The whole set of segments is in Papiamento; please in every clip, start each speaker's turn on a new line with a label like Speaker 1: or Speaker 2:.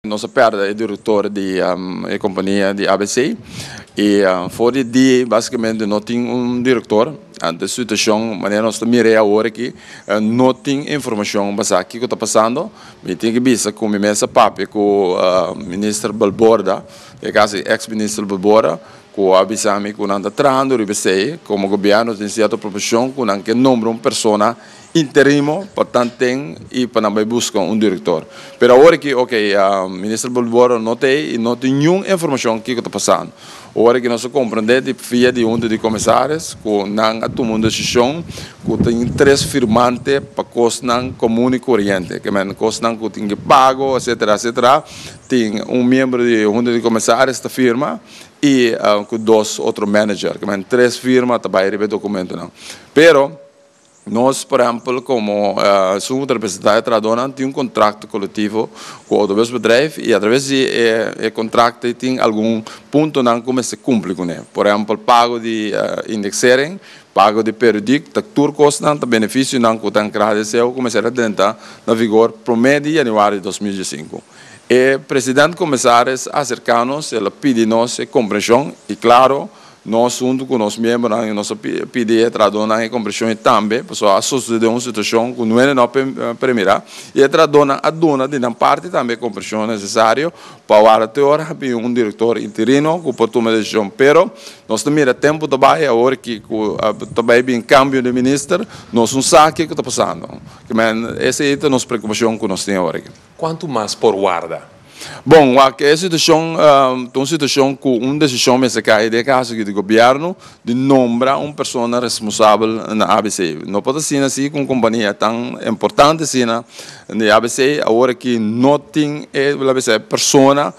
Speaker 1: Nos a perde e direktor di e kompania di ABC i for di di basikamente no tin un direktor. Ante e situashon manera nos ta mir'e awor aki no tin informashon basá kiko ta pasando. Mi tin ke bisa ku mi mes a papia ku Minister Balborda, e kas ei ex Minister Balborda, ku a bisa mi ku nan ta trahando riba esei. Komo gobièrnu tin sierto proposhon ku nan ke nombra un persona. Interimo pa tan ten y pa nan bay busca un director. Pero awor aki ok, Minister Bolborro no ta ey y no tin niun informacion kico ta pasando. Ora ki nos a comprende di via di Hunta di Comisaris cu nan a tuma un decision cu tin tres firmante pa cosnan comun y coriente, que men cosnan cu tin ki pago etcetera etcetera, tin un miembro di Hunta di Comisaris ta firma y cu dos otro manager, que men tres firma ta bay riba e documentonan. Pero Nos, por ehempel, komo Sumo Representá e Trahadónan tin un kontrakto kolektivo ku Outobuspedrijf i atraves di e kontrakto ei tin algun puntonan ku mester kumpli kuné. Por ehempel, pago di indeksering, pago di periodik, ta tur kosnan, ta benefisionan ku ta enkrada di seu ku mester a drenta na vigor promé di yanüari di dos mil diesinku. E President Komesaris a aserká nos, el a pidi nos e komprenshon i, klaro, Nos huntu ku nos miembronan nos a pidi e traduhornan e kompreshon ei tambe, pasobra a sosede un situashon ku no e no premirá, i e traduhornan a duna di nan parti tambe e kompreshon nesesario pa wòrdu te ora a bin un direktor interino ku por tuma desishon. Pero nos ta mira tempu ta bai, awor ki ku ta bai bin kambio di minister, nos no sa ke ku ta pasando. Kimen esei ta nos preokupashon ku nos tin awor aki. Cuantu mas por
Speaker 2: warda. Bon, wak
Speaker 1: e situacion ta un situacion cu un decision mester cae. Den e caso aki di gobierno di nombra un persona responsabel na abc. No por ta asina si cu un compania tan importante asina di abc awor ki no tin e laga sa e persona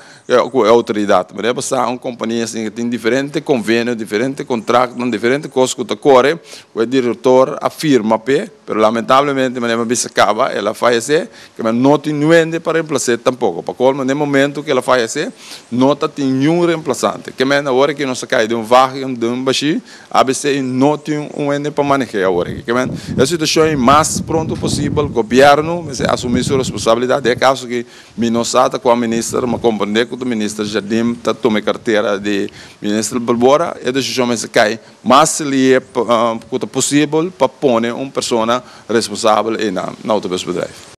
Speaker 1: cu e autoridad. Manera por sa un compania asina cu tin diferente convenio, diferente contractonan, diferente cos cu ta core cu e director a firma p'e pero lamentablemente manera mi a bisa caba el a fayece. Kema no tin nuende pa remplas'é tampoko. Pa kolmo, n'e momentu ku el a fayasé, no ta tin niun remplasante. Ke mende awor aki nos a kai den un vagen den un bashí abc i no tin un wende pa maneh'é awor aki. Ke mende e situashon i mas pronto posibel gobièrnu mester asumí su responsabilidat. Den e kaso aki mi no sa ta kua minister, mi komprendé ku ta minister Jardim ta tuma e kartera di minister pa bora. E desishon mester kai mas lié ku ta posibel pa pone un persona responsabel einan na otro bes bedrijf.